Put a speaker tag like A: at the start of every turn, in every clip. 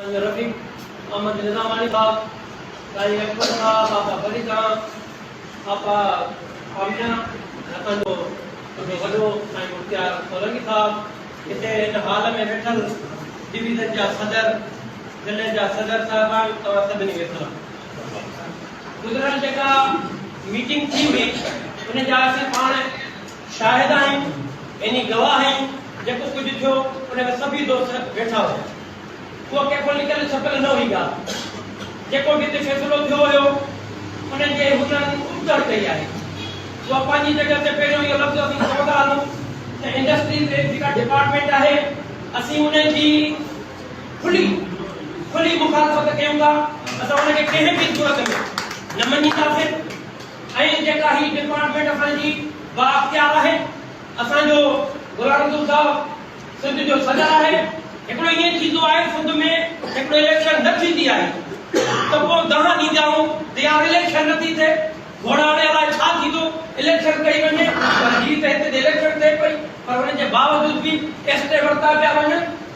A: سائين رفيق احمد نظاماڻي صاحب، سائين اڪبر صاحب، آپا فريد خان، آپا آمنه، اسان جو وڏو وڏو سائين مختيار سولنگي صاحب، هتي هن هال ۾ ويٺل ڊويزن جا صدر، ضلعي جا صدر صاحبان، توهان سڀني کي سلام. گذريل جيڪا ميٽنگ ٿي هئي ان جا اسين پاڻ شاهد آهن، يعني گواهه آهن، جيڪو ڪجهه ٿيو، ان ۾ سڀيئي دوست ويٺا هيا. اها ڪنهن کان لڪل ڇپيل نه هئي ڳالهه. جيڪو به هتي فيصلو ٿيو هيو، انهن جي هجڻ ابتڙ ڪئي آهي. اها پنهنجي جڳهه تي پهريون اهو لفظ اسين چوندا هلون ته انڊسٽري تي جيڪا ڊپارٽمينٽ آهي، اسين ان جي کلي کلي مخالفت ڪيون ٿا. اسان ان کي ڪنهن به صورت ۾ نه مڃينداسين. ۽ جيڪا هي ڊپارٽمينٽ اسان جي بااختيار آهي. اسان جو غلام رسول صاحب سنڌ جو صدر آهي. هڪڙو ائين ٿيندو آهي سنڌ ۾ هڪڙو اليڪشن نه ٿيندي آهي ته پوء دانهن ڏيندا آهون ته يار اليڪشن نه ٿي ٿئي گهوڙاڻي الاء ڇا ٿيندو اليڪشن ڪئي وڃي پر هي ته هتي ته اليڪشن ٿئي پئي پر ان جي باوجود به ايستي ورتا پيا وڃن.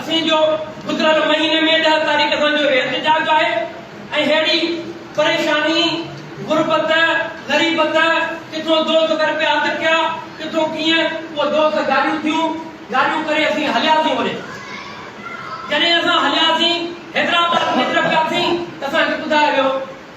A: اسين جو گذريل مهيني ۾ ڏهه تاريخ کان جو احتجاج آهي ۽ ههڙي پريشاني، غربت، غريبت، ڪٿو دوست گهر پيا اڌ ڪيا، ڪٿو ڪيئن، پوء دوست گاليون ٿيون، گاليون ڪري اسين هلياسين وري. جڏهن اسان هلياسين حيدرآباد ۾ اتر پياسين ته اسان کي ٻڌايو ويو.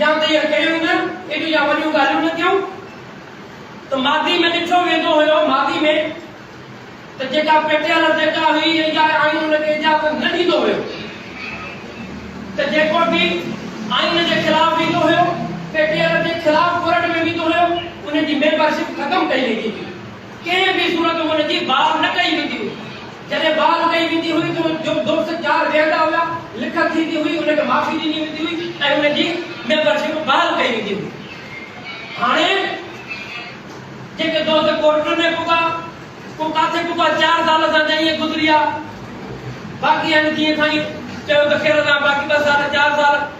A: يا ته اها ڪيون نه ايڏيون يا وڏيون ڳالهيون نه ڪيون ته ماضي ۾ ڏٺو ويندو هيو ماضي ۾ ته جيڪا پيٽيل جيڪا هئي يا ايئن آئين ان کي اجازت نه ڏيندو هيو ته جيڪو به آئين جي خلاف ويندو هيو پيٽيل جي خلاف ڪورٽ ۾ ويندو هيو ان جي ميمبر شپ ختم ڪئي ويندي هئي. ڪنهن به صورت هن جي بار نه ڪئي ويندي هئي. جڏهن بار ڪئي ويندي هئي ته جو دوست چار ويهندا هيا، لکت ٿيندي هئي، ان کي معافي ڏني ويندي هئي ۽ ان جي ميمبر شپ بحال ڪئي ويندي هئي. هاڻي جيڪي دوست ڪورٽن ۾ پڳا، ڪو ڪاٿي پڳا، چار سال اسان جا ائين گذريا، باقي هن جيئن سائين چيو ته خير الله باقي ٻه سال، چار سال،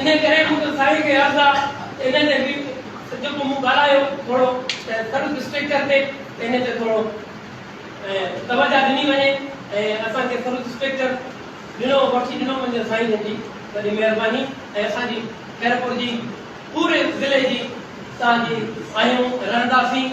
A: انهيء ڪري مون کي سائين کي عرض آ ته انهيء تي به جيڪو مون ڳالهايو ٿورو ته سروس اسٽرڪچر تي ته انهيء تي ٿورو توجهه ڏني وڃي ۽ اسان کي سروس اسٽرڪچر ڏنو وٺي ڏنو وڃي سائين جن جي وڏي مهرباني ۽ اسان جي خيرپور جي پوري ضلعي جي اسان جي آهيون ۽ رهنداسين.